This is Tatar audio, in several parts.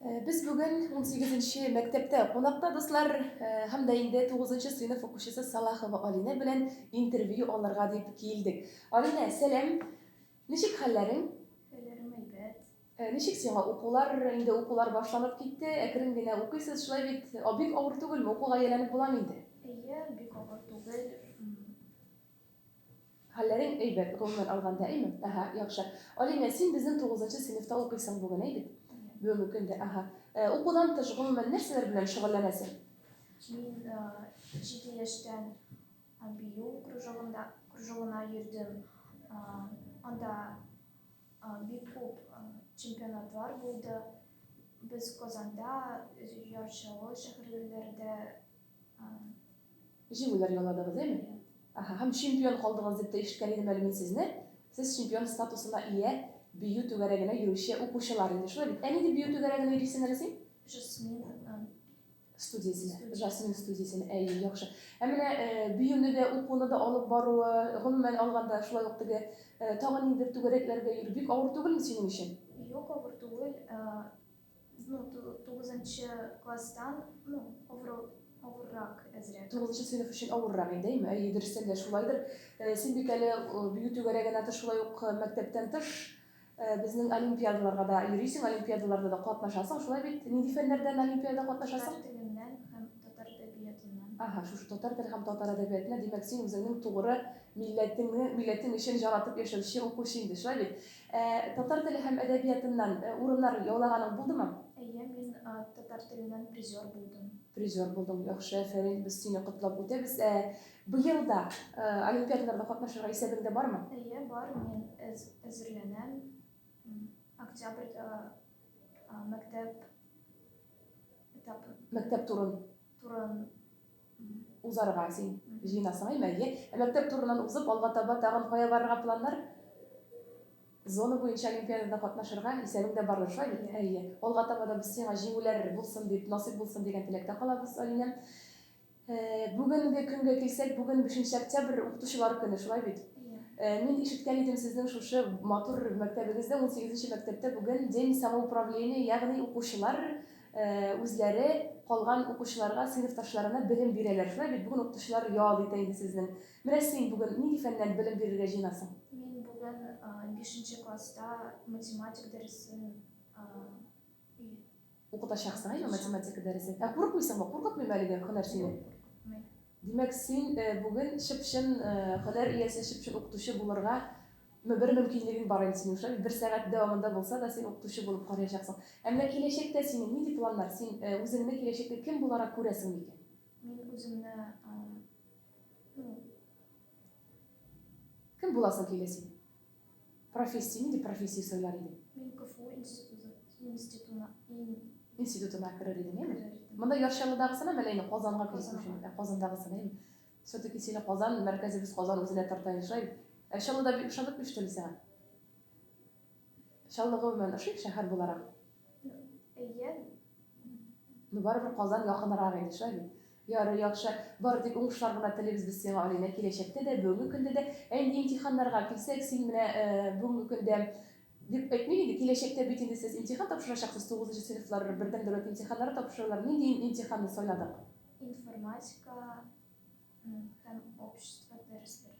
Без бүген унсигезенче мәктәптә кунакта, дуслар, һәм дә инде тугызынчы сыйныф укучысы Салахова Алинә белән интервью алырга дип килдек. Алинә, сәлам! Ничек хәлләрең? Хәлләрем әйбәт. Ничек сиңа укулар? Инде укулар башланып китте, әкрен генә укыйсыз, шулай бит? Бик авыр түгелме, укуга ияләнеп буламы инде? Әйе, бик авыр түгел. Хәлләрең әйбәт, гомумән алганда, әйме? Әһә, яхшы. Алинә, син безнең тугызынчы сыйныфта укыйсың бүген, әй бит? Бүгенге көндә, әһә. Укудан тыш, гомумән, нәрсәләр белән шөгыльләнәсең? Мин җиде яшьтән бию кружогында, кружогына йөрдем. Анда бик күп чемпионатлар булды. Без Казанда, Яр Чаллы шәһәрләрендә Җиңүләр яуладыгыз, әйме? Аһа, һәм чемпион калдыгыз дип тә ишеткән идем әле мин сезне. Сез чемпион статусына ия бию түгәрәгенә йөрүче укучылар инде, шулай бит? Ә ни дип бию түгәрәгенә йөрисең әле син? Жасмин студиясенә. Жасмин студиясенә, әйе, яхшы. Ә менә биюне дә, укуны да алып баруы, гомумән алганда, шулай ук теге тагын ниндидер түгәрәкләргә йөрү бик авыр түгелме синең өчен? Юк, авыр түгел. Ну, ту- тугызынчы класстан, ну, авыру- авыррак әзрәк. Тугызынчы сыйныф өчен авыррак инде, әйме? Әйе, дөрестән дә шулайдыр. Э, Син бик әле э, бию түгәрәгенә тыш, шулай ук э, мәктәптән тыш э, безнең олимпиадаларга да йөрисең, олимпиадаларда да катнашасың, шулай бит? Нинди фәннәрдән олимпиада Татар катнашасың? теленнән һәм татар әдәбиятыннан. Ага, шушы татар теле һәм татар әдәбиятына, димәк, син үзеңнең тугры милләтеңне, милләтең өчен җан атып яшәүче укучы инде, шулай бит? Ә татар теле һәм әдәбиятыннан урыннар яулаганың булдымы? Әйе, мин татар теленнән призер булдым. Призер булдың, яхшы, әфәрин, без сине котлап үтәбез. Ә быел да олимпиадаларда катнашырга исәбеңдә бармы? Әйе, бар, мин әзерләнәм. Октябрьдә мәктәп этабы. Мәктәп турын. Турын. Узарга син җыенасың, әйме? Әйе. Ә мәктәп турыннан узып, алга таба тагын кая барырга планнар? Зона буенча олимпиадада катнашырга исәбең дә бардыр, шулай бит? Әйе. Алга таба да без сиңа җиңүләр булсын дип, насыйп булсын дигән теләктә калабыз, Алинәм. Бүгенге көнгә килсәк, бүген бишенче октябрь, укытучылар көне, шулай бит? Мин ишеткән идем, сезнең шушы матур мәктәбегездә, унсигезенче мәктәптә бүген день самоуправления, ягъни укучылар үзләре калган укучыларга сыйныфташларына белем бирәләр. Шулай бит, бүген укытучылар ял итә инде сезнең. Менә син бүген нинди фәннән белем бирергә җыенасың? Мин бүген бишенче класста математик дәресен укытачаксың, әйеме, математика дәресен. Ә курыкмыйсыңмы? Куркытмыймы әлеге һөнәр сине? Юк, куркытмый. Димәк, син бүген чып-чын һөнәр иясе, чып-чын укытучы булырга бер мөмкинлегең бар инде синең шулаймы? Бер сәгать дәвамында булса да син укытучы булып карыячаксың. Ә менә киләчәктә синең нинди планнар? Син үзеңне киләчәктә кем буларак күрәсең микән? Мин үземне, ну. Кем буласың килә син? Профессия, нинди профессия сайлар идең? Мин КФУ институты, институтына, ин... институтына керер идең, әйме? Керер идем. Монда Яршалыдагысына мәле инде Казанга Казанга. Ә Казандагысына, әйме? Все-таки сине Казан, мәркәзебез Казан үзенә тарта ишай. Ә Чаллыда бик ошадып миштем сиңа. Чаллы гомумән ошый шәһәр буларак. Әйе. Ну барыбер Казан якынрак иде шай. Ярый, яхшы. Бары тик уңышлар гына телибез без сиңа, Алинә, киләчәктә дә, бүгенге көндә дә. Ә инде имтиханнарга килсәк, син менә бүгенге көндә дип әйтмим инде, киләчәктә бит инде сез имтихан тапшырачаксыз, тугызынчы сыйныфлар бердәм дәүләт имтиханнары тапшыралар. Нинди имтиханны сайладык? Информатика һәм общество дәресләре.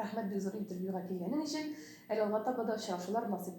Рәхмәт бик зур интервьюга килгәнең өчен. Әле алга таба да очрашулар насыйп.